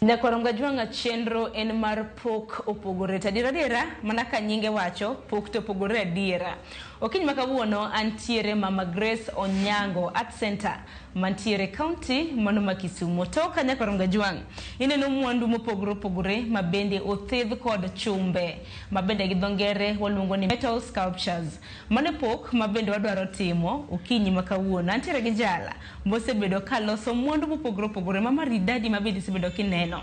Nyakwaro Mgajwanga chenro en mar pok opogore to adiera adiera mana ka nyinge wacho pok to opogore adiera. Okinyi ma kawuono antiere Mama Grace Onyango Art Center mantiere kaunti mano ma Kisumo. To kanyakla Rongajwang' ineno mwandu mopogore opogore ma bende othedh kod chumbe ma bende gi dho ngere waluongo ni metal sculptures. Mane pok ma bende wadwaro timo okinyi ma kawuono. Antiere gi jala mosebedo ka loso mwandu mopogore opogore ma maridadi ma bende isebedo kineno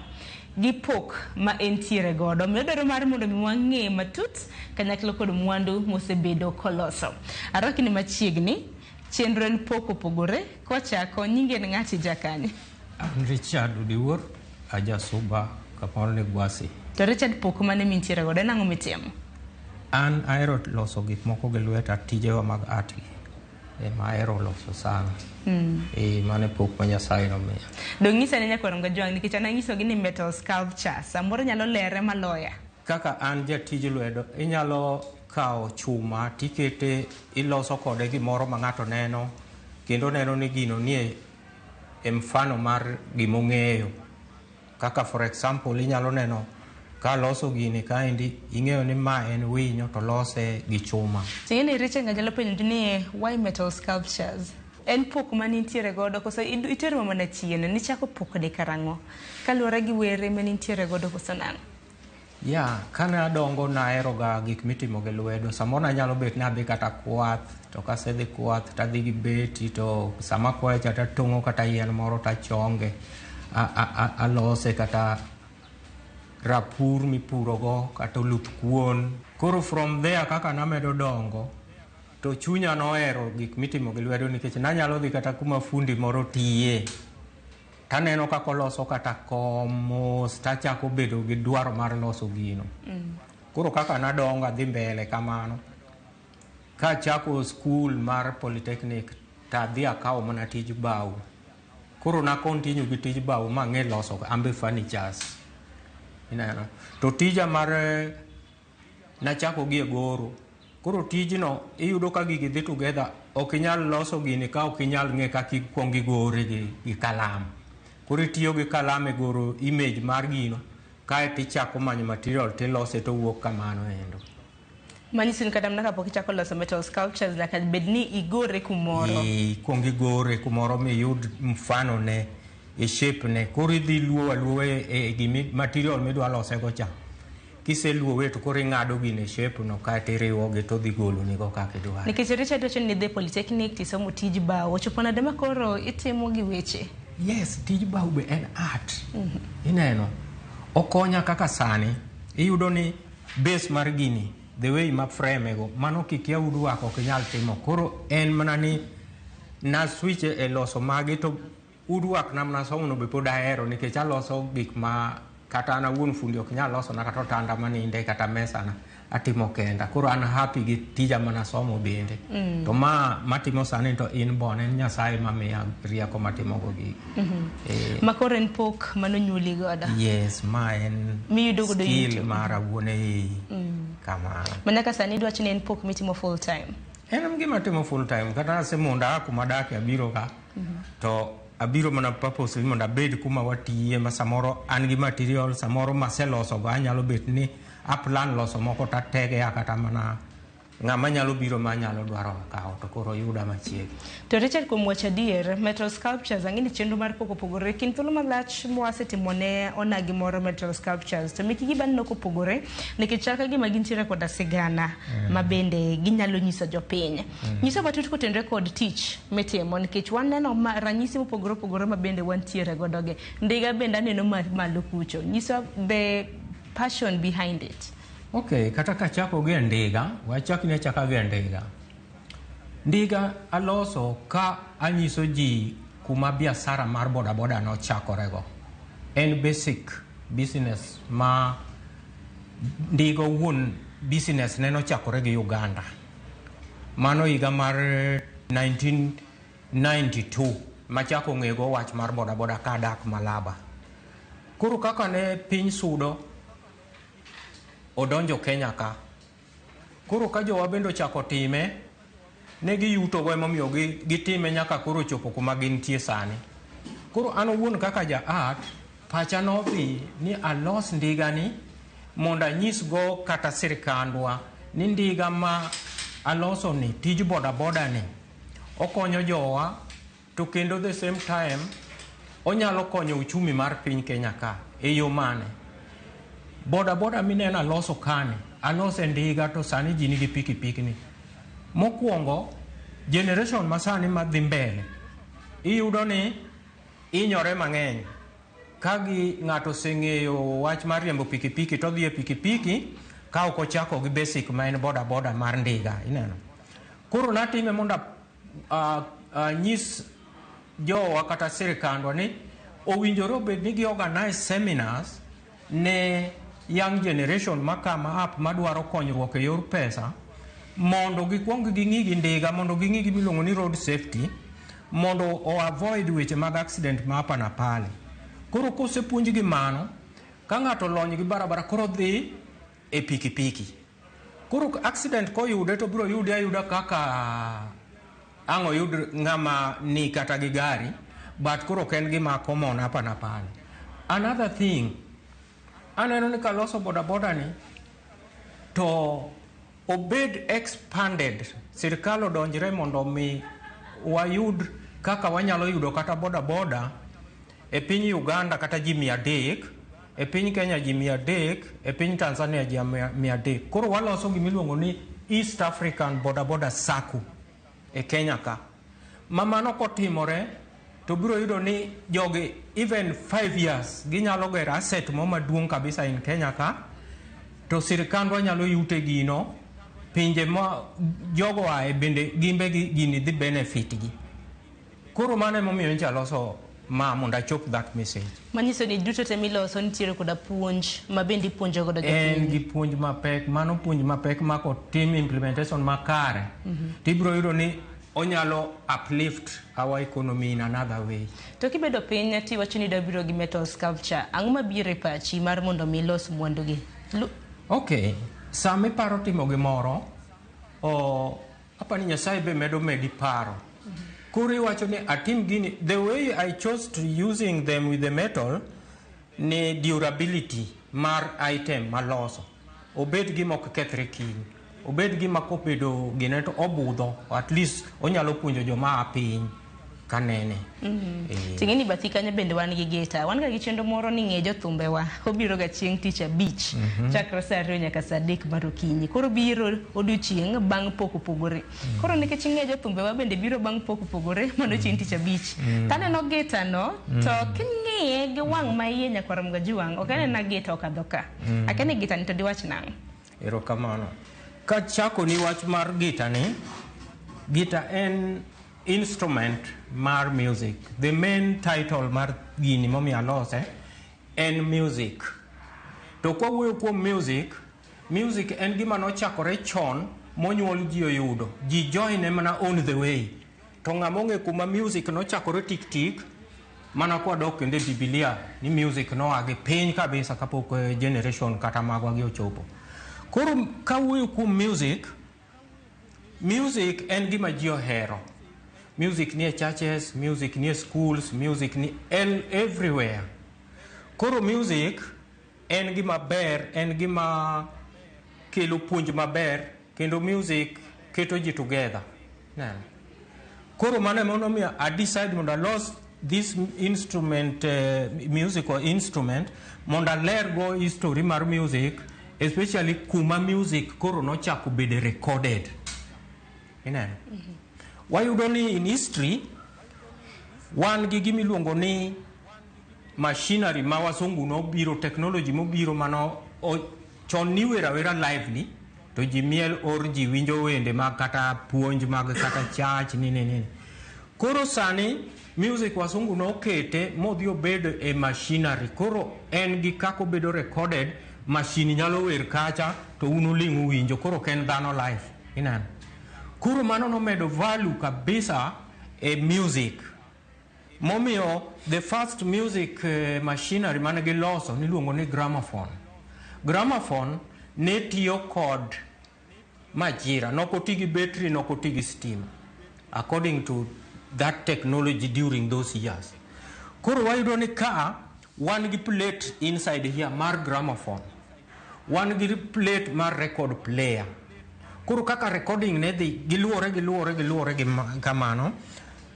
gi pok ma entiere godo. Omiyo dwaro mar mondo mi wang'e matut kanyakla kod mwandu mosebedo koloso. Arwaki ni machiegni. Chenro en pok opogore kochako nyingi en ng'ati ija kanye? An Richard Odiwuor, aja Suba kamoro ni Gwasi. To Richard pok mane mintiere godo en ang'o mitimo? An ahero loso gik moko gi lweta tijewa mag art gi. Ema ahero loso sana. Mm. Eh, mane pok ma Nyasaye nomiya. Dong'isa ne nyakwar Ngajwang' nikech an anyisogi ni metal sculpture. Samoro nyalo lere maloya. Kaka an jatij lwedo inyalo Ikawo chuma to ikete, iloso kode gimoro ma ng'ato neno, kendo oneno ni gino nie e mfano mar gima ong'eyo. Kaka for example, inyalo neno ka loso gini kaendi, ing'eyo ni ma en winyo to lose gi chuma. Ing'eni Richa ng'a nyalo penjo ni why metal sculptures? En pok mane intiere godo koso in- iterwa mana chien? Nichako pokni karang'o? Kaluwore gi were mane intiere godo koso nang'o? Ya, kane adongo naheroga gik mitimo gi lwedo. Samoro nanyalo bet ni adhi kata kwath, to kasedhi kwath to adhi gi beti to sama akwayo cha to atong'o kata yien moro to achonge, a- a- a- alose kata rapur mipurogo kata oluth kuon. Koro from there kaka namedo dongo to chunya nohero gik mitimo gi lwedo nikech nanyalo dhi kata kuma fundi moro tiye taneno kaka oloso kata kom mos tachako bedo gi dwaro mar loso gino mm. koro kaka nadongo adhi mbele kamano kachako skul mar polytechnic tadhi akawo mana tij bao koro nakontinyu gi tij bao mang'e loso ambe furnitures ineno to tija mar Nachako gi e goro. Koro tijno iyudo ka gigi dhi together, ok inyal loso gini ka ok inyal ng'e kaka ikwongo igore gi, gi kalam. Koro itiyo gi kalam e goro image mar gino, kae to ichako manyo material to ilose to wuok kamano endo. Manyiso ni kata mana kapok ichako loso metal sculptures nyaka bed ni igore kumoro. Ikwongo igore kumoro miyud mfano ne, e shape ne. Koro idhi luwo aluwa e, e gimi, material midwa losego cha. Kiseluowe to koro ing'ado gine e shape no kae to iriwogi to odhi golonigo kaka idwaro. Nikech Richard wacho ni nidhi polytechnic tisomo tij bao, ochopo nade ma koro itimo gi weche? Yes, tij bao be en art. Mm -hmm. Ineno, okonya kaka sani iyudo ni base mar gini the way ma frame go mano kikia udwako ok inyal timo koro en mana ni na switch e loso magi to Uduak na mna somo no be pod ahero nikech aloso gik ma kata an awuon fundi ok nyal loso na kata otanda maninde kata mesa na atimo kenda koro an happy gi tija mana somo bende mm. to ma matimo sani to in bon en nyasaye mamiya rieko matimo go gigi mm -hmm. eh, ma koro en pok mano nyuli godo yes ma en miyudo godo skill mar awuon ei mm. kamano mana ka sani idwacho ni en pok mitimo full time en gima timo full time kata asemunda kuma dake abiro ka to abiro mana purposely mondo abed kuma watiye ma samoro an gi material samoro maselosogo anyalo bet ni aplan loso moko tategea kata mana ng'ama nyalo biro ma nyalo dwaro kawo to koro yuda machiegni to richard kuom wacho adier metal sculptures ang'e ni chenro mar pok opogore kind thuolo malach mwasetimo ne onagi moro metal sculptures to mekigi bende nok opogore nikech chal ka gima gintiere koda sigana ma bende ginyalo nyiso jopiny Nyiso matut kotenre kod tich mitimo nikech waneno ma- ranyisi mopogore opogore ma bende wantiere godoge. Ndiga bende aneno ma- malo kucho. Nyiso the passion behind it. Okay, kata kachako gi e ndiga, wachak ni achaka gi e ndiga. Ndiga aloso ka anyiso ji kuma biashara mar bodaboda nochakorego. En basic business ma ndiga owuon business ne nochakore gi Uganda. Mano higa mar 1992 machako ng'ego wach mar bodaboda ka adak Malaba. Koro kaka ne piny sudo odonjo Kenya ka. Koro ka jowa bende ochako time, ne giyutogo emomiyo gitime nyaka koro ochopo kuma gintie sani. Koro an owuon kaka ja art Pacha nodhi ni alos ndigani mondo anyisgo kata sirkandwa ni ndiga ma alosoni, tij bodabodani okonyo jowa to kendo the same time onyalo konyo uchumi mar piny Kenya ka. E yo mane? Bodaboda mineno aloso kani, alose ndiga to sani ji nigi pikipikni. Mokwongo, generation masani madhi mbele iyudo ni inyore mang'eny ka ng'ato oseng'eyo wach mar riembo pikipiki to odhi e pikipiki ka ok ochako gi basic ma en boda boda mar ndiga ineno koro natime mondo anyis jowa kata sirikandwa ni owinjore obed ni gi organize seminars ne young generation makama app madwaro konyruok e yor pesa mondo gikwong ging'i gi ndiga mondo ging'i gi miluongo ni road safety mondo o avoid weche mag accident ma hapa na pale koro kosepuonjgi mano ka ng'ato olony gi barabara koro dhi e pikipiki. Koro accident koyude to biro yude ayuda kaka ang' oyud ng'ama ni kata gi gari but koro ok en gima common hapa na pale. Another thing, aneno ni kaloso bodaboda ni to obed expanded, sirkal odonjre mondo mi wayud kaka wanyalo yudo kata bodaboda e piny Uganda kata ji mia adek. e piny Kenya ji mia adek, e piny Tanzania ji mia adek. Koro waloso gima iluongo ni East African Boda Boda Sacco e Kenya ka. Ma mano kotimore to biro yudo ni jogi even 5 years ginyalo gero asset mo maduong' kabisa in Kenya ka to sirkandwa nyalo yute gino pinje ma jogo ae bende gimbe gini dhi benefit gi. Koro mano emomiyo nyicha loso ma mondo achop that message. Manyiso ni duto te miloso nitiere koda puonj ma bende ipuonjo godo jopiny. En gi puonj mapek, mano puonj mapek ma kotim implementation makare, mm -hmm. to ibiro yudo ni onyalo uplift our economy in another way. To kibedo piny ti wacho ni dabiro gi metal sculpture, ang'o mabiro e pachi mar mondo mi ilos mwandugi? Okay, sama iparo timo gimoro, oh, Apa ni Nyasaye be medo medi paro. Koro iwacho ni atim gini, the way I chose to using them with the metal ni durability mar item maloso. Obed gima ok kethre kiny. Obed gima kobedo gine to obudho, at least onyalo puonjo joma a piny. kanene mm-hmm. eh. ting'e ni bathi kanyo bende wan gi gita wan ga gi chenro moro ni ng'e jothumbewa obiro ga chieng' tich abich mm-hmm. chakre sa ariyo nyaka sa adek mar okinyi koro biro odiochieng' bang' pok opogore mm. koro nikech ng'e jothumbewa bende biro bang' pok opogore mano chieng' tich abich mm. kaneno gita no mm. to king'iye gi wang' ma iye nyakwar mga jiwang' ok anena gita okadho ka akene gita ni to diwach nang' erokamano kachako ni wach mar gita ni gita en Instrument mar music. The main title mar gini momiyo alose en music. To kwawuoyo kuom music, music en gima nochakore chon monyuol ji oyudo. Ji join mana on the way. To ng'ama ong'e kuma music nochakore tik tik, mana kwadok kendo e Biblia ni music noa gi piny kabisa kapok eh, generation kata magwa gi ochopo. Koro kawuoyo kuom music, Music en gima ji ohero. Music nie churches, music nie schools, music ni el- everywhere. Koro music en gima ber, en gima kelo puonj maber kendo music keto ji together. Neno. Koro mano ema nomiyo I decide mondo alos this instrument, uh, musical instrument mondo aler go history mar music especially kuma music koro nochako bede recorded. Ineno? Mm -hmm. Wayudo ni in history wan gi gima iluongo ni machinery ma wasungu nobiro technology mobiro mano chon niwero awera live ni to ji miel or ji winjo wende mag kata puonj mag kata church nini nini koro sani music wasungu nokete modhi obedo e machinery koro en gi kako bedo recorded machine nyalo wer kacha to un uling uwinjo koro ok en dhano life ineno koro mano nomedo value kabisa e music Momiyo the first music eh, machinery mane giloso niluongo ni gramophone. Gramophone ne tiyo kod majira, nok oti gi battery, nok oti gi stima according to that technology during those years. Koro wayudo ni ka Wan gi plate inside here mar gramophone. Wan gi plate mar record player. Koro kaka recording ne dhi giluore giluore giluore gi kamano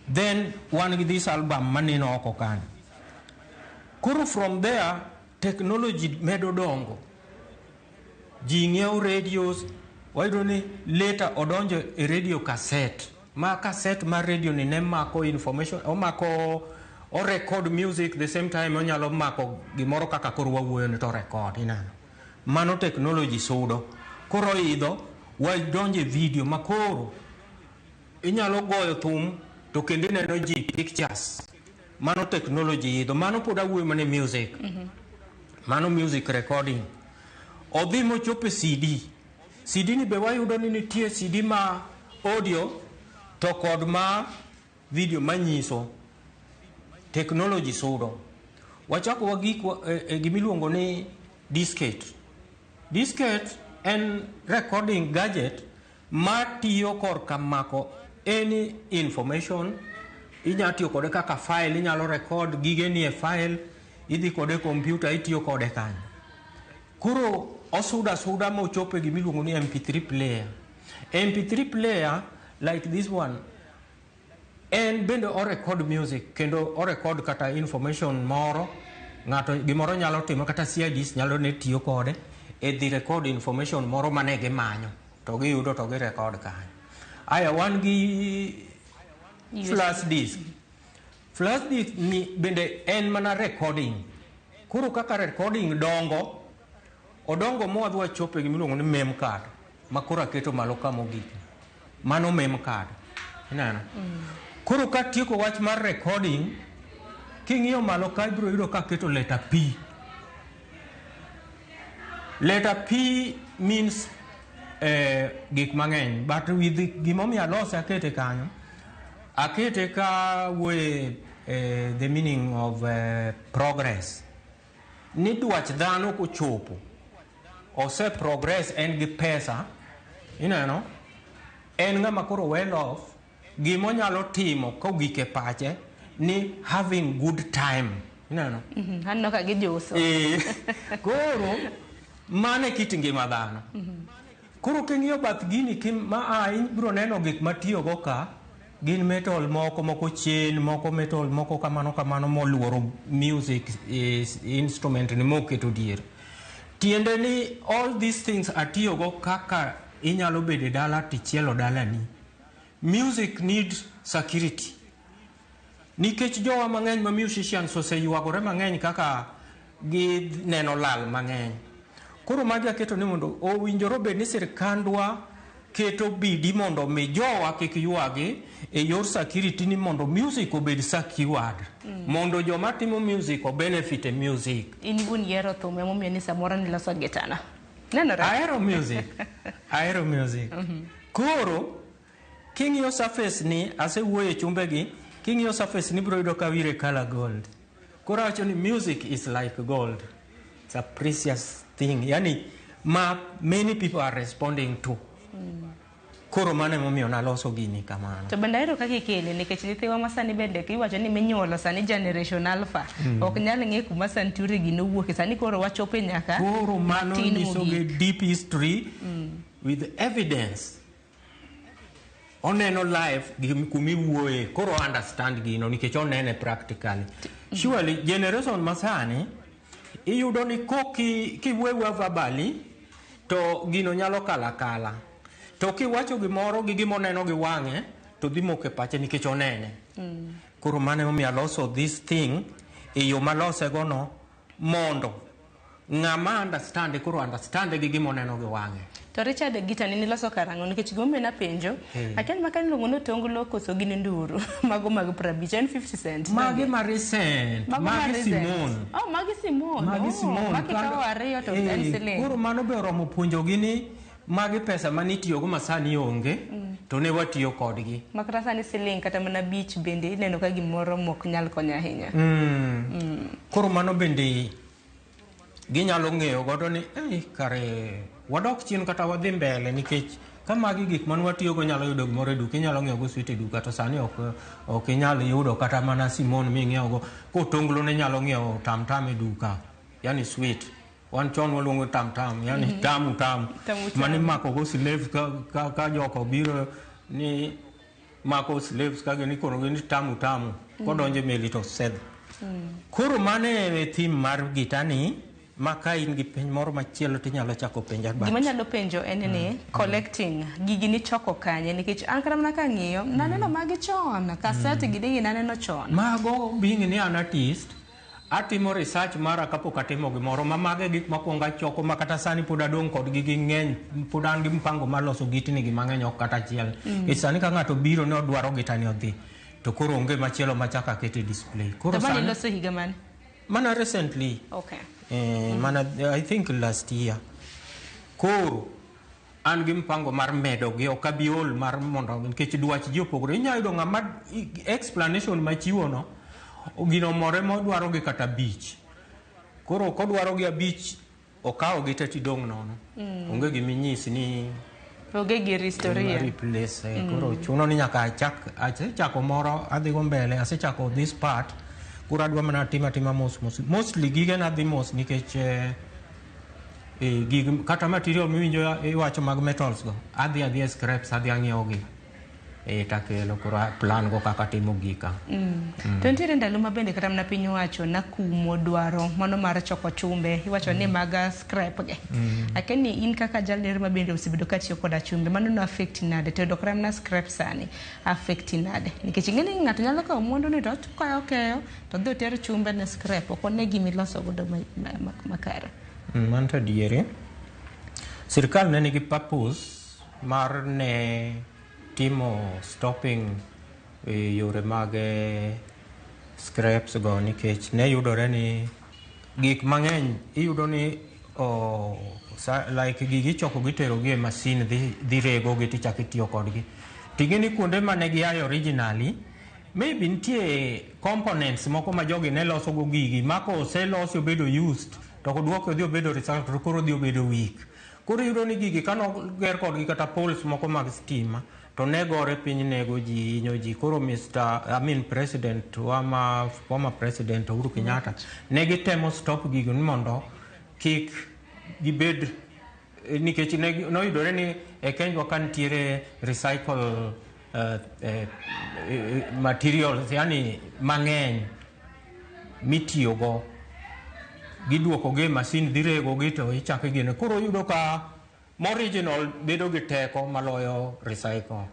then wan gi this album maneno oko kanyo. Koro from there technology medo dongo. Ji ng'iewo radios, wayudo ni later odonjo e radio cassette. Ma cassette mar radio ni ne mako information, omako o record music the same time onyalo mako gimoro kaka koro wawuoyo ni to record inano. Mano technology sudo. Koro idho wadonje video ma koro inyalo goyo thum to kendo ineno ji pictures. Mano technology idho, mano pod awuoyo mana e music. Mano music recording. Odhi mochop e CD. CD ni be wayudo ni nitie CD ma audio to kod ma video manyiso. Technology sudo. Wachako wagik wa- e- e gimiluongo ni disket. Disket en recording gadget Ma tiyo korka mako any information, inya tiyo kode kaka file, inyalo record gige nie file, idhi kode e computer itiyo kode kanyo. Koro osudo asuda mochopo e gima iluongo ni MP3 player. MP3 player like this one En bende o record music kendo o record kata information moro ng'ato gimoro nyalo timo kata CIDs nyalo ne tiyo kode e dhi record information moro mane gimanyo to giyudo to gi record kanyo. Aya wan gi flash disk. Flash disk ni bende en mana recording. Koro kaka recording dongo, odongo mwadwa chope gimiluongo ni mem card ma koro aketo malo ka mogik. Mano mem card. Ineno? Mm. Koro ka tieko wach mar recording, king'iyo malo ka ibiro yudo ka keto letter P. Letter P means eh, gik mang'eny, but with gimomiyo alose akete kanyo, akete ka wuoye eh, the meaning of eh, progress. ni dwach dhano kochopo ose progress en gi pesa ineno en ng'ama koro well off gima onyalo timo kogik e pache ni having good time ineno Mhm, aneno ka gijuso Eh, koro mano e kit ngima dhano koro king'iyo bath gini kim- ma a ibiro neno gik matiyogo ka Gin metal moko moko chen, moko metal moko kamano kamano moluoro music is instrument ni moketo dier. Tiende ni all these things atiyogo kaka inyalo bedo e dala tichielo dalani. Music need security. Nikech jowa mang'eny ma musicians oseyuagore mang'eny kaka gi neno lal mang'eny. Koro magi aketo ni mondo owinjore obed ni sirkandwa keto bidi mondo mi jowa kik ywagi e yor security ni mondo music obed secured mm. mondo joma timo music o benefit e music. In gun yero thum e momiyo ni samoro ni loso gitana. Nenore. Ahero music. Ahero music. Mm -hmm. Koro King'iyo surface ni, asewuoyo e chumbegi, king'iyo surface ni ibiro yudo ka wire color gold. Koro awacho ni music is like gold. It's a precious thing. Yani ma many people are responding to. Koro mano emomiyo naloso gini kamano. To bende ahero kaka ikele nikech nyithiwa ma sani bende iwacho ni minyuolo sani generation alpha ok nyal ng'e kuma Santuri gi nowuoke sani koro wachope nyaka Koro mano matin nyisogi mogik. deep history with evidence. oneno life gi- kuma iwuoye koro o understand gino nikech onene practically surely generation masani iyudo ni koki kiwewa verbally to gino nyalo kala kala to kiwacho gimoro gi gima oneno gi wang'e to dhi moko e pache nikech onene koro mane omiyo aloso this thing e yo malosegono mondo ng'ama understand koro understand gi gima oneno gi wang'e. To Richard Gita ni niloso karang'o nikech gombe na penjo hey. Akia ni makani luongo ni otonglo koso gin nduru mago mag 50 en 50 cent. Magi ma recent. Mago magi ma Simon. Oh magi Simon. Magi oh, Simon. Oh, magi kawo ariyo to hey. en siling. Koro mano be oromo puonjo gi ni Magi pesa mane itiyogo ma sani onge mm. to ne watiyo kodgi. Ma kata sani siling kata mana bich bende ineno ka gimoro mok nyal konyo ahinya. Mm. Mm. Koro mano bende ginyalo ng'eyo godo ni eh, kare wadok chien kata wadhi mbele nikech ka magi gik man watiyogo nyalo yudo gimoro e duka inyalo ng'iewo go swit e duka to sani ok ok inyal yudo kata mana simon ming'iewo go kotonglo ne nyalo ng'iewo tamtam e duka yani swit wan chon waluongo tam tam yani mm -hmm. tamu tamu mani mako go slave ka, ka, ka joka obiro ni mako slaves ka gini koro gini tamu tamu mm -hmm. kodonje meli to sedh mm -hmm. koro mane e thim mar gitani ma ka in gi penj moro machielo to inyalo chako penja bat gima nyalo penjo en ni mm. mm. collecting gigi ni choko kanye nikech an kata mana ka ng'iyo mm. naneno magi chon kaset mm. gidigi naneno chon mago being ni an artist Atimo research mara kapok atimo gimoro ma mago e gik makwongo achoko ma kata sani pod adong' kodgi gi ng'eny pod an gi mpango mar loso gitni gi mang'eny ok kata achiel e sani ka ng'ato biro ne odwaro gitani odhi to koro onge machielo machaka akete display koro Dabani sani iloso higa mane? mana recently Okay. eh, mana i think last year koro an gi mpango mar medo gi ok abi ol mar mondo nikech dwach ji opogore inyalo yudo ng'ama explanation machiwono gino more modwaro gi kata abich koro kodwaro gi abich okawo gi te tidong' nono mm. onge gima inyisi ni onge gi historia replace eh, mm. koro chuno ni nyaka achak asechako moro adhi go mbele asechako this part koro adwa mana tima tima mos mos mostly gige na dhi mos nikech eh, gig kata material miwinjo iwacho mag metals go adhi adhi scraps adhi ang'iewo gi e takelo koro plan go kaka timo gika mm. Mm. to nitiere ndalo ma bende kata mana piny wacho nakumo dwaro mano mar choko chumbe iwacho ni mm. maga scrap ge mm. akeni in kaka jalner ma bende osebedo ka tiyo koda chumbe mano no affect nade to dokra mana scrap sani affect nade nikech ing'e ni ng'ato nyalo kawo mwandu ni to okayo keyo To dhi oter chumbe ne scrap ok one gima iloso godo ma- ma- ma- makare. Mm, Mano to adieri. Sirkal ne nigi purpose mar ne timo stopping e yore mag eh, scraps go nikech ne yudore ni gik mang'eny iyudo ni o, sa, like gigi ichoko gitero gi e masin dhi, dhi rego gi tichako itiyo kodgi. Ting'e ni kuonde ma ne giayo originally Maybe nitie components moko ma jogi ne loso go gigi ma koselosi obedo used to kodwoke odhi obedo result to koro odhi obedo weak. Koro iyudo ni gigi kano ger kodgi kata poles moko mag stima to ne gore piny nego ji hinyo ji koro Mr. I mean President wa ma former President Uhuru Kenyatta ne gitemo stop gigo ni mondo kik gibed Eh, nikech noyudore ni e kenjwa ka nitiere recycle uh, uh, materials yani mang'eny mitiyogo gidwokogi e masin dhi regogi to ichako igene koro yudo ka moriginal bedo gi teko maloyo recycle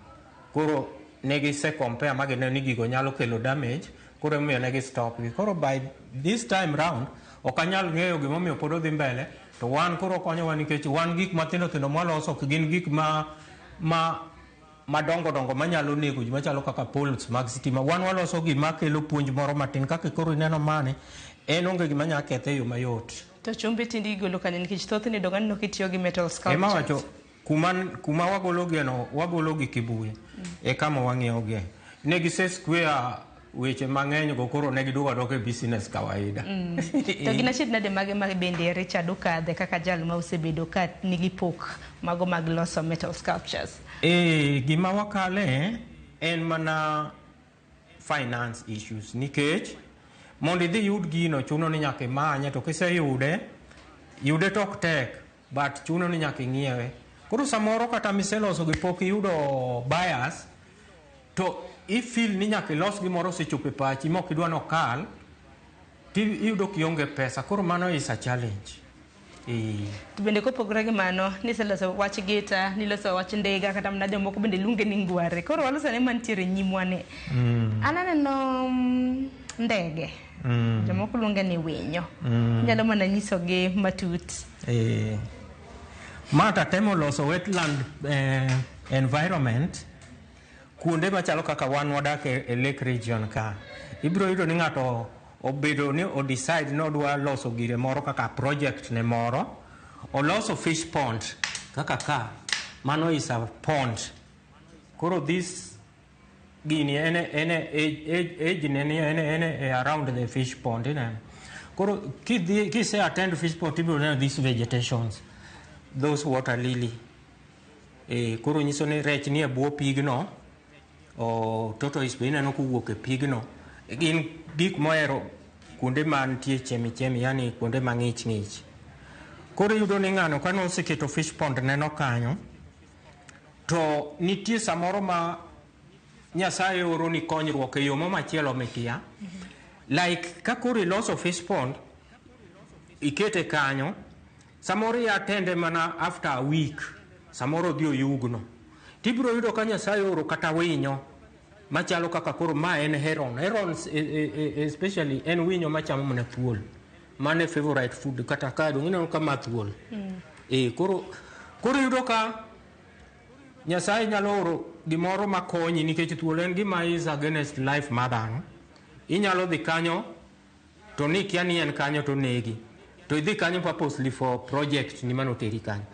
koro ne gisecompare ma gineno ni gigo nyalo kelo damage koro emomiyo ne gistopgi koro by this time round ok anyal ng'eyo gimomiyo pod odhi mbele To wan koro okonyowa nikech wan gik mathindo thindo mwaloso ok gin gik ma ma madongo dongo manyalo nego ji machalo kaka poles mag sitima. Wan waloso gima kelo puonj moro matin kaka koro ineno mani en onge gima nyalo kethe e yo mayot. To chumbe tinde igolo kanye nikech thothne idonga ni nok itiyo gi metal sculptures. Ema wacho Kuma, kuma wagologeno, wagologi Kibuye e kama wang'iewogie. Ne gise square weche mang'eny go koro ne giduogo aduoka e business kawaida. Mm. to gin achiedh nade mage ma bende Richard okadhe kaka jal ma osebedo ka nigi pok mago mag loso metal sculptures? Eh, gima wakale en mana finance issues nikech mondo idhi yud gino chuno ni nyaka imanye to kiseyude yude tok tek but chuno ni nyaka ing'iewe koro samoro kata miseloso gi pok iyudo bias to ifil ni nyaka ilos gimoro osechopo e pachi mok idwa ni okal to iyudo kionge pesa koro mano is a challenge Eh, To bende kopogore gi mano, niseloso wach gita, niloso wach ndiga, kata mana jomoko bende luonge ni ngware. Koro waloso ne mantiere e nyimwa ni. An aneno mm, ndege. Mm. Jomoko luonge ni winyo. Mm. Nyalo mana nyisogi matut. Eh. Ma tatemo loso wetland eh, environment kuonde machalo kaka wan wadak e, e lake region ka. Ibiro yudo ni ng'ato obedo ni o decide ni odwa loso gire moro kaka project ne moro. Oloso fish pond kaka ka. Mano is a pond. Koro this gini en en age ne ni en en around the fish pond ine koro kidhi kise attend fish pond ibiro neno these vegetations those water lily e koro nyiso ni rech nie bwo pigno o tortoise be ineno kowuok e pigno gin gik mohero kuonde ma nitie chemi chemi yani kuonde ma ng'ich ng'ich koro iyudo ni ng'ano kane oseketo fish pond neno kanyo To nitie samoro ma Nyasaye oro ni konyruok e yo ma machielo mikia. Like ka koro iloso fish pond, ikete kanyo, samoro i attend e mana after a week, samoro odhi oyugno. Tibiro yudo ka Nyasaye oro kata winyo machalo kaka koro ma en heron. Herons e- e- e- especially en winyo machamo mana thuol. Mane favorite food kata ka dong ineno ka math wol. Mm. Eh koro koro yudo ka Nyasaye nyalo oro gimoro makonyi nikech thuolo en gima is against life ma dhano. Inyalo dhi kanyo to ni kia ni en kanyo to negi. To idhi kanyo purposely for project ni mano teri kanyo.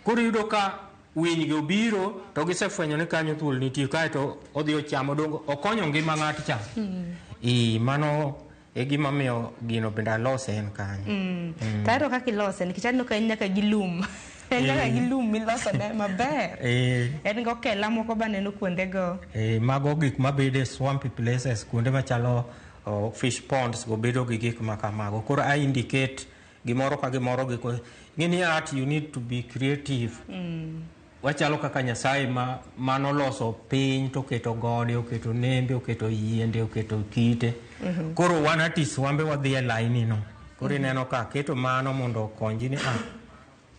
Koro yudo ka winy go biro to gisefwenyo ni kanyo thuol nitie kae to odhi ochamo dongo okonyo ngima ng'at cha. Mm. I mano e gima miyo gino bende alose en kanyo mm. mm. tayro kaka ilose nikech aneno ka en nyaka gi lum en nyaka eh. gi lum miloso ne maber eh. en go kela moko ba neno kuonde go eh, mago gik mabede swampy places kuonde machalo oh, fish ponds go bedo gi gik ma kamago koro i indicate gimoro ka gimoro giko ng'e ni art you need to be creative mm. Wachalo kaka Nyasaye ma manoloso piny to oketo gode, oketo nembe, oketo yiende, oketo kite. Mhm. Koro wan atis wambe wadhi e laini no. Koro mhm. ineno ka keto mano mondo okonji ni ah,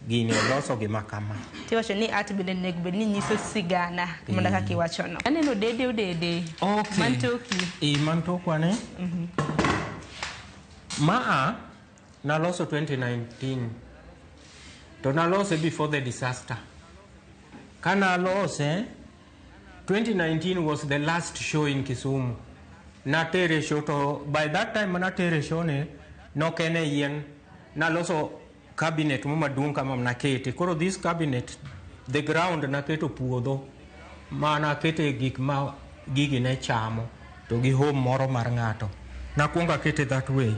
gini oloso gi makama. Tiwacho ni art bende nego bed ni nyiso sigana mondo eh. kaka iwacho no. Aneno dede odede. Okay. Mantoki. Eh, mantokwa ne. Mhm. Maa Naloso 2019 to nalose before the disaster. Ka nalose 2019 was the last show in Kisumu. Natere show to by that time natere show ne nok en e yien naloso cabinet mo maduong' kama nakete. Koro this cabinet the ground naketo puodho. mana kete gik ma gigi ne chamo to gi home moro mar ng'ato. Nakwongo akete that way.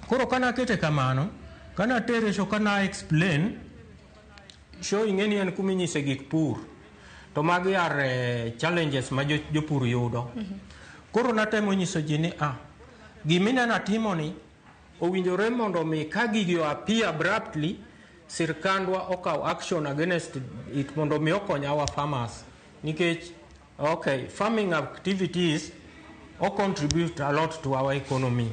Koro ka nakete kamano, ka natere show ka na explain, show ing'e ni en kuma inyise gik pur. To magi are eh, challenges ma jo- jopur yudo. Koro natemo nyiso ji ni ah, gima ineno atimoni Owinjore mondo mi ka gigi o appear abruptly, sirkandwa okaw action against it mondo mi okony our farmers. Nikech, okay, farming activities o contribute a lot to our economy.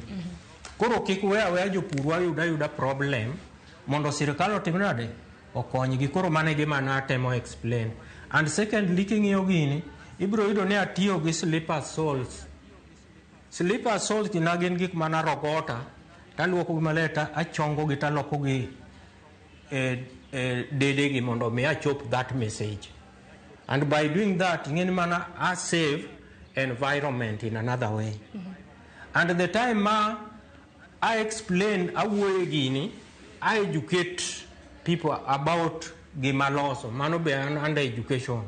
Koro kik we aweya jopurwa yud ayuda problem mondo sirkal otim nade? Okonygi. Koro mano e gima natemo explain. And secondly, king'iyo gini, ibiro yudo ni atiyo gi slipper soles. Slippers soles na gin gik ma narogota taluokogi maler ta achongogi talokogi e, e dedegi mondo mi achop that message and by doing that ing'e ni mana a save environment in another way mm -hmm. and the time ma I explain awuoye gini I educate people about gima loso mano be an under education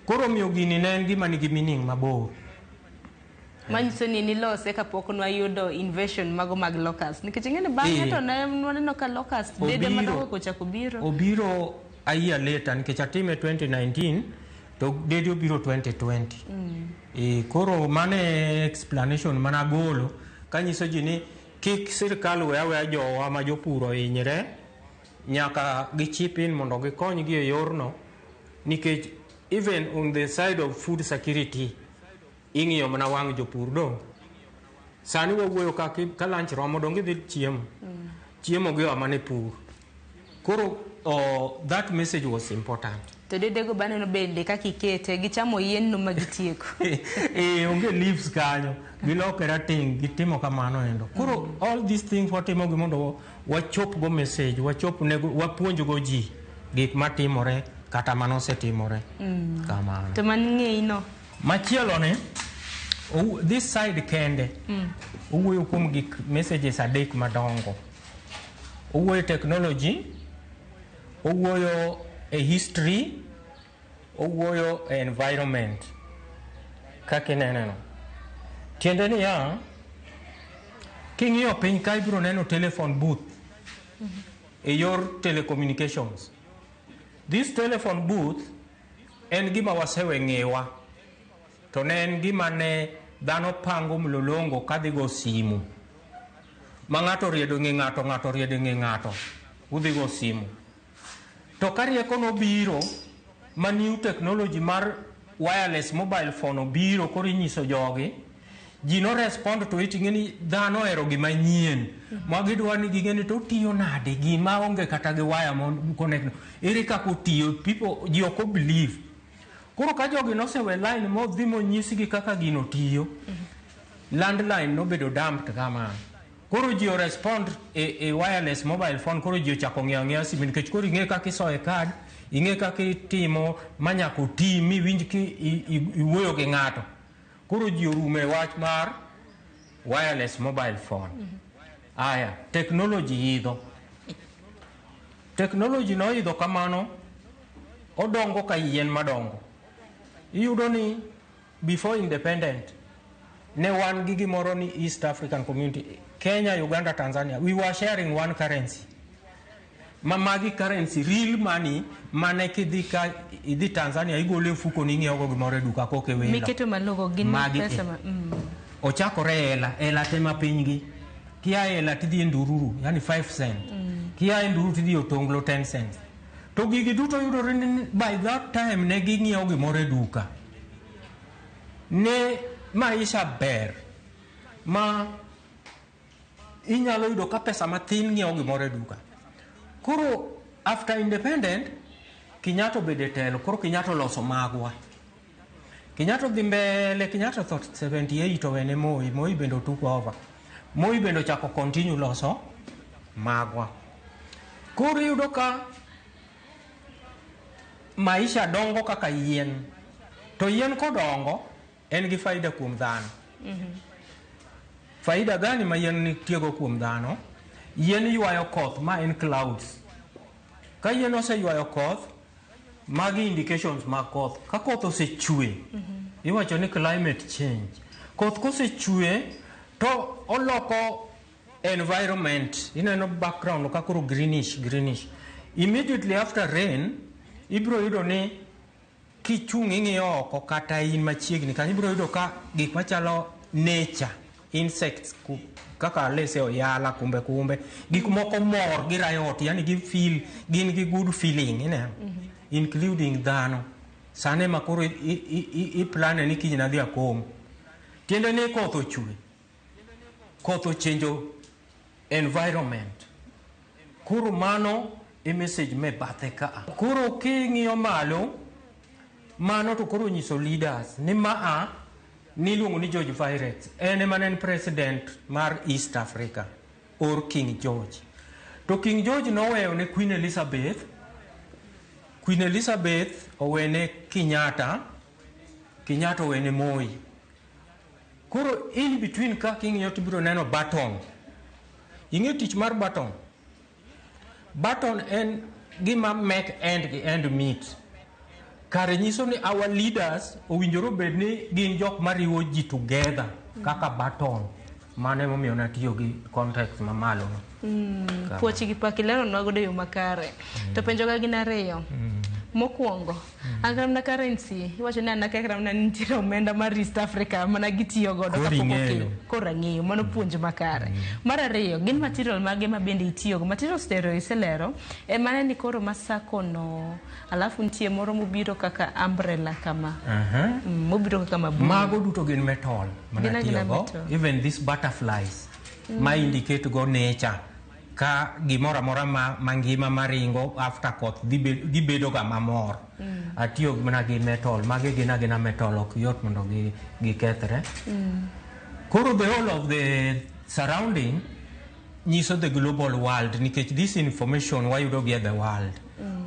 Koro omiyo gini ne en gima nigi meaning mabor. Manyiso ni nilose kapok nwayudo invasion mago mag locust. Nikech ing'e ni bang'e Eh. to ne nwaneno ka locust bede Obiro. madongo kochako biro. Obiro a year later nikech atime 2019 to dede obiro 2020. E, koro mano e explanation mana agolo kanyiso ji ni kik sirkal we aweya jowa ma jopur ohinyre nyaka gichip in mondo gikonygi e yorno nikech even on the side of food security ing'iyo mana wang' jopur do sani wawuoyo ka, ki- ka lunch romo donge idhi chiemo chiemo gi oa mana e pur koro oh, that message was important to dedego baneno bende kaka ikete gichamo yienno ma gitieko e onge leaves kanyo gilokera ting' gitimo kamano endo koro all these things watimogi mondo wachopgo message, wachop ne wapuonjgo ji gik matimore kata mane osetimore. Mm. Kamano. To man ng'eyi no. Machielo ni this side kende mm. owuoyo kuom gik messages adek madongo. Owuoyo technology, owuoyo a history Owuoyo e environment kaka ineneno. Tiende niya, king'iyo piny ka ibiro neno telephone booth e yor telecommunications. This telephone booth en gima wasewe ng'ewa to ne en gima ne dhano pango mlolongo kadhigo simu ma ng'ato oriedo ng'e ng'ato ng'ato oriedo ng'e ng'ato udhigo simu To ka rieko nobiro ma new technology mar wireless mobile phone obiro koro inyiso jogi ji no respond to it ing'e ni dhano ohero gima nyien ma gidwa ni ging'e ni to otiyo nade gima onge kata gi waya mon connect no. ere kaka otiyo people ji ok obelieve koro ka jogi nosewe line modhi monyisgi kaka gino tiyo landline nobedo dumped kamano Koro ji o respond e, e wireless mobile phone koro ji ochako ng'eyo ang'eya simu nikech koro ing'e kaka isoye card ing'e kaka itimo ma nyaka oti mi winj ki i- i- iwuoyo gi ng'ato koro ji orumo e wach mar wireless mobile phone aya technology idho technology noidho kamano odongo ka yien madongo iyudo ni Before independent, ne wan gi gimoro ni East African Community, Kenya, Uganda, Tanzania. We were sharing one currency. Ma magi currency, real money, mane kidhi ka idhi Tanzania igolo e mfuko ni ing'iewogo gimoro e duka koke welo. Miketo malogo gin Magi e. pesa ma. Mm. ochakore e hela hela te ma pinygi kia e hela tidhi e ndururu yani 5 cent kia e ndururu tidhi e otonglo 10 cent to gigi duto yudore ni by that time ne ging'iewo gimoro e duka Ne maisha ber ma inyalo yudo ka pesa matin ng'iewo gimoro e duka. Koro after independent, Kenyatta obedo e telo, koro Kenyatta oloso magwa. Kenyatta odhi mbele, Kenyatta otho 78 owene Moi, Moi bende otook over. Moi bende ochako continue loso magwa. Koro iyudo ka Maisha dongo kaka yien, to yien kodongo en gi faida kuom dhano. Faida gani ma yien nitiego kuom dhano? Yien ywayo koth, ma en clouds. Ka yien oseywayo koth, magi indications mag koth. Ka koth osechwe, iwacho ni climate change. Koth kosechwe to oloko environment ineno background ka koro greenish greenish immediately after rain ibiro yudo ni kichung' ing'iyo oko kata in machiegni kanyo ibiro yudo ka gik machalo nature insects ku- kaka lese oyala kumbe kumbe gik moko mor gi riot yani gi feel gin gi good feeling ineno including dhano sane ma koro i- i- i- i- i plane ni kiny nadhi akom tiende ni koth ochwe koth ochenjo environment. Koro mano e message me bathe ka. Koro king'iyo malo, mano to koro nyiso leaders ni maa niluongo ni George Virets en ema ne en president mar East Africa or King George. To King George noweyo ne Queen Elizabeth, Queen Elizabeth owene Kenyatta, Kenyatta owene Moi. Koro in between ka king'iyo to ibiro neno button. Ing'e tich mar button? Button en gima make end gi end meet. Kare nyiso ni our leaders owinjore obed ni gin jok mariwo ji together kaka button. Mano emomiyo natiyo gi context mamalo. Mm, Kama. puoch gi pak ileronwa godo e yo makare. To penjoga gin ariyo. Mokwongo, An kata mana currency, iwacho ni an akia kata mana ni nitiere omenda mar East Africa mana gitiyo godo Koro kapok ing'eyo. okelo. Koro ang'eyo, mano puonj makare. Mar ariyo, gin material mage ma bende itiyogo? Material stereo iselero, e mane ni koro ma sako no, alafu nitie moro mobiro kaka umbrella kama, Aha. Mm, mobiro kaka mabul. Mago duto gin metal Gin mana agina tiyogo. metal. Even these butterflies ma indicate go nature. ka gimoro amora ma mangima maringo after koth gibedo ga mamor mm. atiyo mana gi metal magi gin agina metal ok yot mondo gikethre mm. koro the whole of the surrounding nyiso the global world nikech this information wayudo gi e the world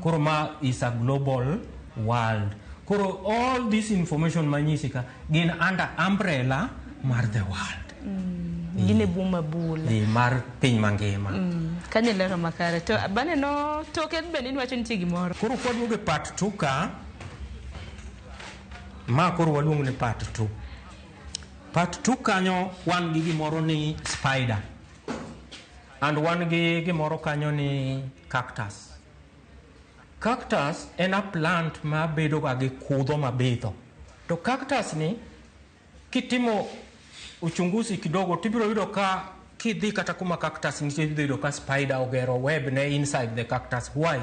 koro ma is a global world koro all this information manyisi ka gin under umbrella mar the world gin e bwo mabul eh, mar piny mangima kanyo e lero makare to baneno toke bende inwacho nitie gimoro koro kwaduogo e part two ka ma koro waluongo ni part two part two kanyo wan gi gimoro ni spider and wan gi gimoro kanyo ni Cactus. Cactus en a plant ma bedo ga gi kudho mabitho. To cactus ni kitimo uchunguzi kidogo tibiro yudo ka kidhi kata kuma cactus nitie ibiro yudo ka spider ogero web ne inside the cactus. Why?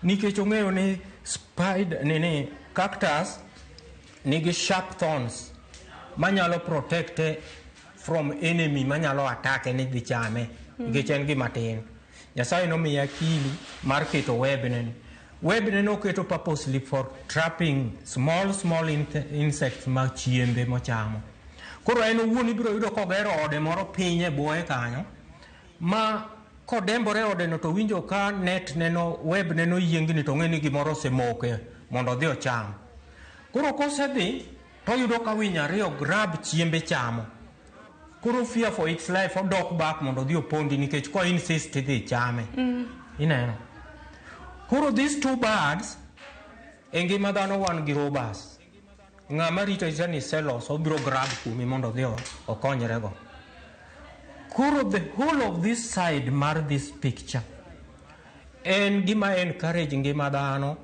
Nikech ong'eyo ni spider nini cactus nigi sharp thorns manyalo protecte from enemy manyalo atake ni dhi chame nikech en gima tin. Nyasaye nomiye akili mar keto webne ni. Webne noketo purposely for trapping small small insects ma chiembe mochamo. Koro en owuon ibiro yudo kogero ode moro piny e bwoye kanyo ma kodembore odeno to winjo ka net neno web neno yiengni to ng'e ni gimoro osemoke mondo odhi ocham. Koro kosedhi to oyudo ka winy ariyo grab chiembe chamo. Koro fear for its life odok back mondo odhi opondi nikech ko insist idhi chame. Mm. Ineno. Koro these two birds e ngima dhano wan gi robas. Ng'ama rito rita ni selos obiro grab kuomi mondo odhi okonyrego. Koro the whole of this side mar this picture en gima encourage ngima dhano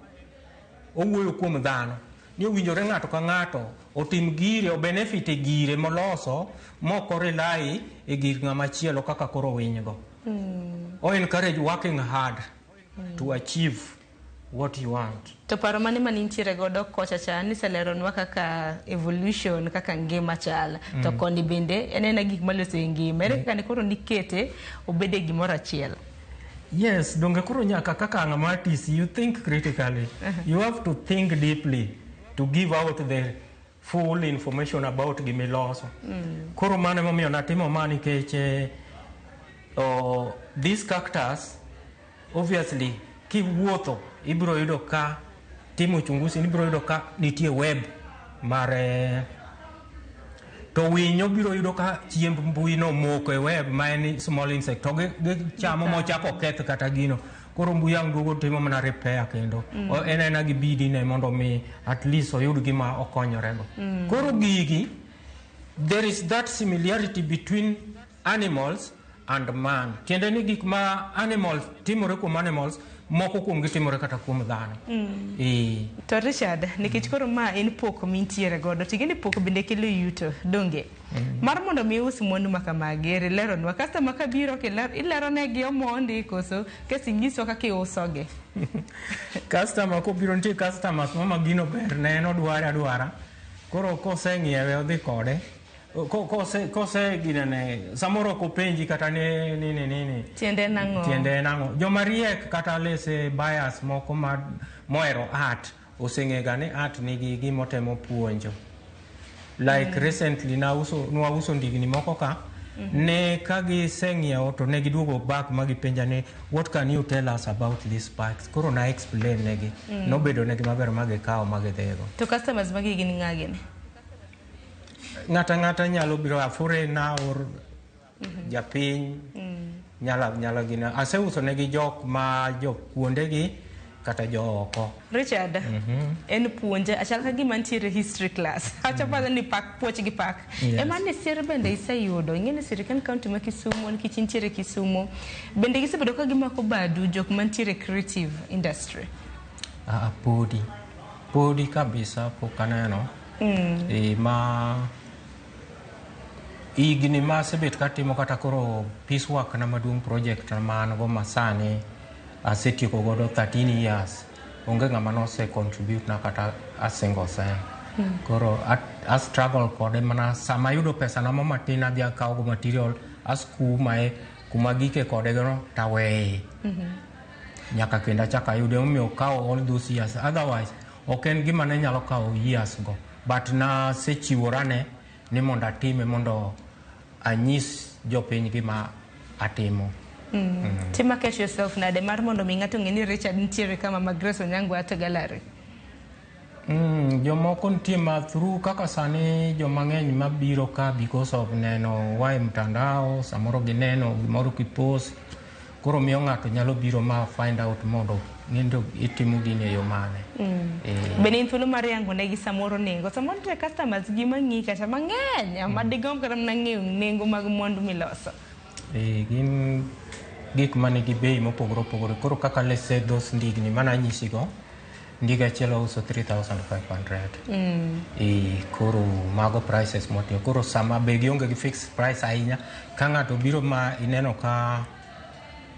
Owuoyo kuom dhano ni owinjore ng'ato ka ng'ato otim gire obenefit e gire moloso mok orelai e gir ng'ama chielo kaka koro winygo. Mm. O encourage working hard mm. to achieve what you want. To paro mane ma nintiere godo kocha cha niseleronwa kaka evolution kaka ngima chal mm. to koni bende en ena gik maloso e ngima ere mm. kaka ne koro nikete obede gimoro achiel. Yes, donge koro nyaka kaka ng'ama artist, you think critically. You have to think deeply to give out the full information about gima iloso. Koro mano emomiyo natimo ma nikech eh, oh, these cactus obviously kiwuotho ibiro yudo ka timo uchunguzi ni biro yudo ka nitie web mar eh, to winyo biro yudo ka chiemb mbui no moko e web ma en small insect to gi- gichamo mochako keth kata gino koro mbui ang' duogo timo mana repair kendo Mm. O- en ena gi bidi ne mondo mi at least oyud gima okonyorego Mm. koro gigi there is that similarity between Animals and man. Tiende ni gik ma animals timore kuom animals moko kuom gitimore kata kuom dhano. Mm. E. To Richard, nikech koro ma en poko mintiere godo, ting'e ni poko bende kelo yuto, donge? Mm. Mar mondo mi us mwandu ma kamagi, eri lero nwa. Kasta ma kabiro, ilero ne gi omondi, koso, kasi nyiso kaki uso gi. Kasta ma kubiro nti kasta ma kuma magino ber, ne no duara duara. Koro kose ngiewe odhi kode. Ko- kose kose ginene samoro ok openji kata ni nini nini Tiende nang'o? tiende nang'o joma riek kata lese bias moko ma mohero art oseng'ega ni art nigi gimotemo puonjo like mm. recently nauso nwauso ndigni moko ka mm-hmm. ne ka giseng'iewo to ne giduogo back ma gipenja ni what can you tell us about these bikes koro na explain negi mm. nobedo negi maber ma gikawo ma gidhigo To customers magi gin ng'a gini? Ng'ata ng'ata nyalo biro afure na or mhm. japiny mm. nyala nyala gina aseuso ne gi jok ma jok kuonde gi kata jo oko Richard mm -hmm. en puonje achal ka gima nitiere history class acha mm. pala ni pak puoch gi pak yes. ema ni sir bende iseyudo ing'eni sirikal county ma Kisumu nikech nitiere Kisumu bende gisebedo ka gimako badu jok mantiere creative industry ah, ah podi podi kabisa pok aneno Mm. E, ma higni ma asebet katimo kata koro peace work na maduong' project ma an go masani asetieko godo 13 years onge ng'ama nose contribute na kata a single cent mm. koro a, a struggle kode mana sama ayudo pesa na matin adhi akawo go material askumae kuma gike kode gono taweye mm -hmm. nyaka kendo achak ayude omiyo kawo all those years otherwise Ok en gima ne nyalo kawo years go but nasechiworane ni mondo atime mondo anyis jopiny gima atimo. Mm. Mm. To market yourself nade mar mondo mi ng'ato ng'e ni Richard nitiere kama ma Grace Onyango ato gallery? Mm, jomoko nitie ma through kaka sani joma ng'eny mabiro ka because of neno wae mtandao samoro gineno gimoro kipost koro miyo ng'ato nyalo biro ma find out mondo ng'endi itimo gini e yo mane mm. eh. bende in thuolo mar yango negi samoro nengo samoro nitie customers gi mang'i kata mang'eny mm. ma digomb kata mana ng'eyo nengo mag mwandu miloso eh, gin gik ma nigi bei mopogore opogore koro kaka lese those ndigni mana anyisigo Ndiga achiel wauso 3500. Mm. E, koro mago prices motiyo. Koro sama be gionge gi fixed price ahinya ka ng'ato biro ma ineno ka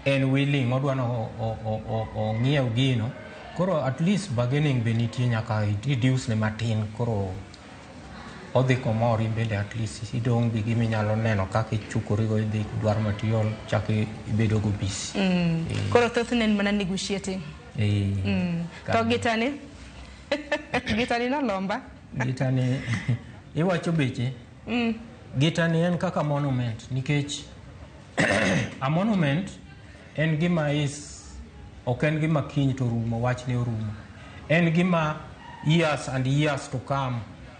en willing odwa ni o- o- o- o- ong'iew gino koro at least bargaining be nitie nyaka reduce ne matin koro odhi komor in bende at least idong' gi gima inyalo neno kaka ichukorigo idhi dwaro material chak ibedogo busy. Mm. Koro thothne en mana negotiating. Mm. To gitani? gitani nolomba? gitani iwacho beche? Mm. Gitani en kaka monument nikech a monument en gima is ok en gima kiny to rumo wachne orumo. En gima years and years to come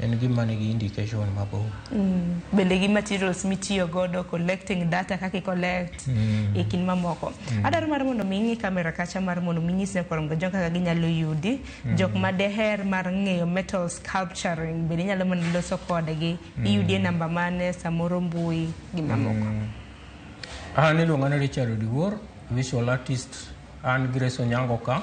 En gima nigi indication mabor. Mm. Bende gi materials mitiyo godo collecting data kaka collect mm. e kin mamoko. Mm. Adaro mar mondo mi ing'i kamera kacha mar mondo mi nyis ne kwarom jok kaka ginyalo yudi. Mm. Jok ma deher mar ng'eyo metal sculpturing bende nyalo mana loso kodgi. Mm. Iyudie namba mane samoro mbui gi mamoko. Mm. An iluonga ni Richard Odiwuor, visual artist. An Grace Onyango ka.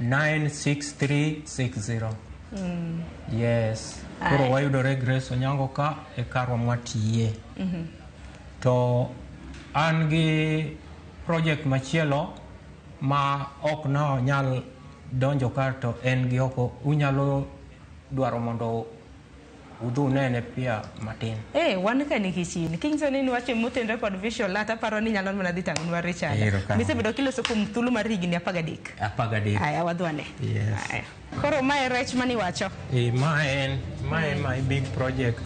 96360 mm. yes koro wayudore grace onyango ka e karwa mwatiye mm -hmm. to an gi project machielo ma ok nonyal donjo kar to en gi oko unyalo dwaro mondo Udhu unene pia matin. Eh, wan ka ni kichini. King Soni ni wache motenre kod visual art aparo ni nyalo mana dhi tangonwa Richard. Ero ka. Misebedo kiloso kuom thuolo mar higni 13. Apaga dek. Aya wadhwane. Yes. Aya. Koro mae rech mani wacho. Eh, ma en, ma en my big project.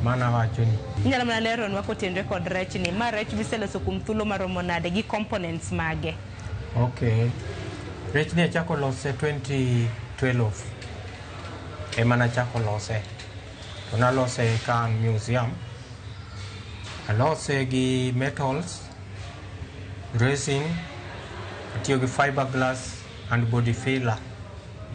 Mana wacho ni. Inyalo mana leronwa kotenre kod rech ni. Ma rech miseloso kuom thuolo maromo nade gi components mage. Okay. Rech ni achako lose 2012. ema nachako lose to nalose ka an museum alose gi metals resin atiyo gi fiberglass and body filler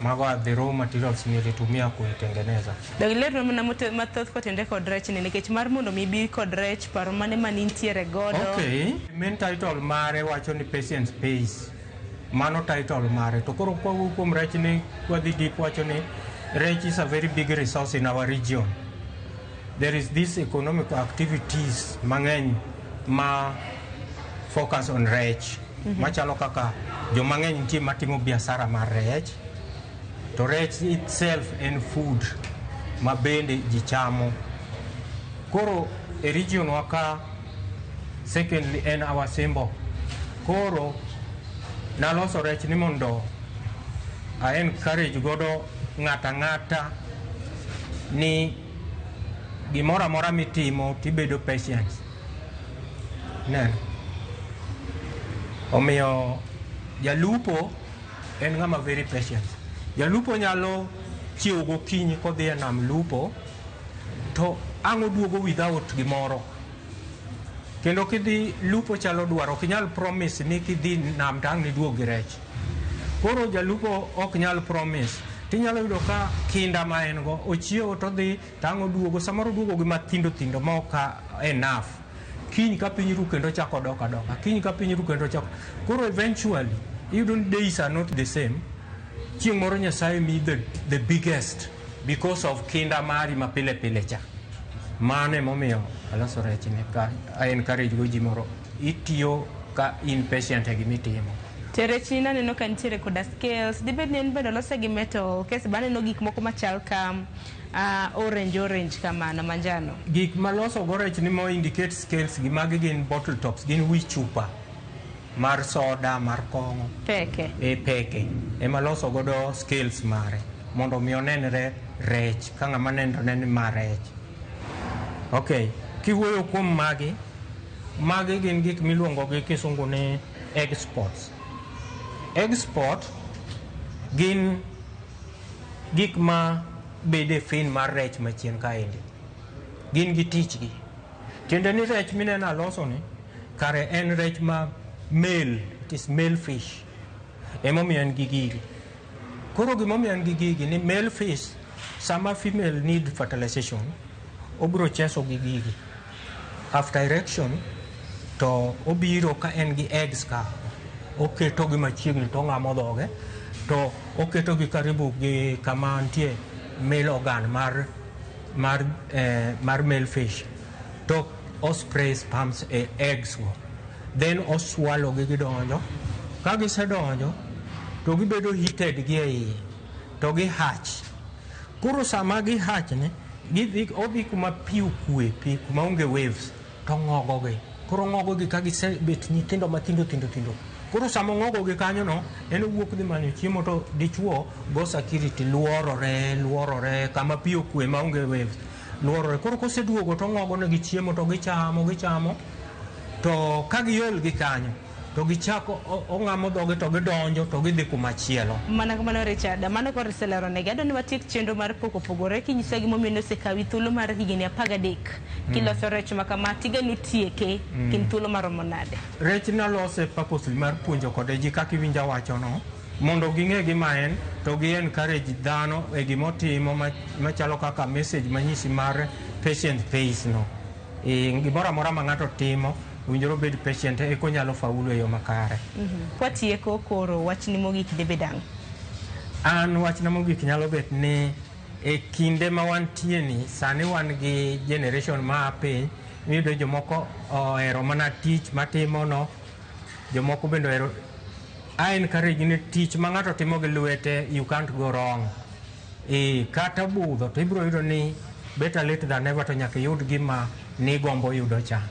mago are the raw materials nilitumia kuitengeneza Donge ler na mote- mathoth kotende kod rech ni nikech mar mondo mi ibi kod rech paro mane ma nintiere godo okay main title mare wacho ni patience pays Mano title mare. To koro kwa wuok kuom rech ni kwa dhi deep wacho ni rech is a very big resource in our region. There is this economic activities mang'eny ma focus on rech. Mm -hmm. Machalo kaka jo mang'eny nitie matimo biasara mar rech. To rech itself en food ma bende ji chamo. Koro e region waka Secondly en our symbol. Koro naloso rech ni mondo a encourage godo ng'ata ng'ata ni gimoro amora mitimo tibedo patient. Neno. Omiyo jalupo en ng'ama very patient. Jalupo nyalo chiewo gokinyi kodhi e nam lupo To ang' oduogo without gimoro. Kendo kidhi lupo chalo dwaro, ok inyal promise ni kidhi nam to ang' niduog gi rech. Koro jalupo ok nyal promise. Tinyalo yudo ka kinda ma en go, ochiewo to odhi to ang' oduogo. Samoro oduogo gi mathindo thindo ma ok enough. Kiny ka piny ru kendo ochako odok adoka. Kiny ka piny ru kendo ochako. Koro eventually, iyudo ni days are not the same. Chieng' moro Nyasaye miyi the, the biggest. Because of kinda mari ma pile pile cha. Mano emomiyo aloso rech ni ka I encourage go ji moro itiyo ka in patient e gima itimo. To rechni naneno ka nitiere koda scales, dibed ni en bende olose gi metal, kese be aneno gik moko machal ka ah, orange orange kamano, manjano. Gik maloso go rech ni mo indicate scales gi magi gin bottle tops, gin wi chupa. mar soda mar kong'o peke e peke ema loso godo skills mare mondo mi onenre rech ka ng'ama nenre ne ni ma rech ok kiwuoyo kuom magi magi gin gik miluongo gi kisungu ni exports export gin gik ma bede fin mar rech machien kaendi gin gi tichgi Tiende ni rech mineno alosoni kare en rech ma male, it is male fish. Emomiyo en gi gigi. Koro gimomiyo en gi gigi ni male fish sama female need fertilization obiro cheso gi gigi. After erection to obiro ka en gi eggs ka oketo gi machiegni to ong'amo dhoge to oketo gi karibu gi kama nitie male organ mar mar, eh, mar male fish to ospray sperms e eggs go then oswalo gi gidonjo ka gisedonjo to gibedo heated gi e iye to gi hatch koro sama gi hatch ni gidhi odhi kuma pi okue pi kuma onge waves to ng'ogogi. Koro ong'ogogi ka gisebet nyithindo mathindo thindo thindo. Koro sama ong'ogogi kanyono, en owuok dhi manyo chiemo to dichwo go security luorore luorore kama pi okwe maonge waves luorore. Koro koseduogo to ong'ogonegi chiemo to gichamo gichamo to ka giol gi kanyo to gichako o- ong'amo dhoge to gidonjo to gidhi kuma chielo Mana kamano Richard, mano koro iseleronegi. Adwa ni watiek chenro mar pok opogore kinyisa gimomiyo nosekawi thuolo mar higni apar gadek kiloso rech ma kama tiga notieke Mm. gin thuolo maromo nade? rech nalose purposely mar puonjo kode ji kaka iwinja wachono mondo ging'e gima en to gi encourage dhano e gima otimo ma- machalo kaka message manyisi mar patient pays no Eh, gimoro amora ma ng'ato timo owinjore obed patient eka onyalo faulu e yo makare. Kwatieko koro wachni mogik debed ang'? An wachna mogik nyalo bet ni e kinde ma wantie ni sani wan gi generation ma a piny miyudo jomoko ohero mana tich matimono jomoko bende ohero I encourage ni tich ma ng'ato timo gi lwete you can't go wrong. Ee, kata budho to ibiro yudo ni better late than never to nyaka iyud gima nigombo yudo cha.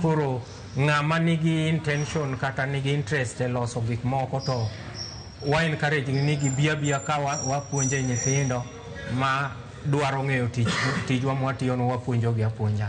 Koro ng'ama nigi intention kata nigi interest e loso gik moko to wa encourage ni gibi abiya ka wa- wapuonje nyithindo ma dwaro ng'eyo tich tijwa mwatiyono wapuonjogi apuonja.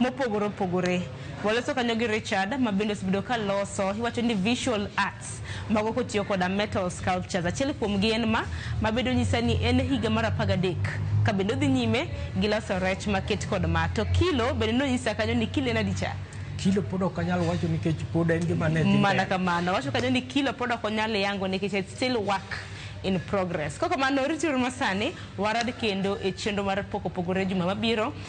mopogore opogore. Waloso kanyo gi Richard ma bende osebedo ka loso iwacho ni visual arts mago kotiyo koda metal sculptures. Achiel kuomgi en ma mabedo nyisa ni en e higa mar apar gadek ka bende odhi nyime gi loso rech maket kod ma. To kilo bende nonyisa kanyo ni kilo en adi cha? Kilo pod ok anyal wacho nikech pod en gima ne dhi Mana mbele. kamano. Wacho kanyo ni kilo pod ok onyal yango nikech it's still work in progress. Kok kamano rituru masani warad kendo e chenro mar pok opogore juma mabiro.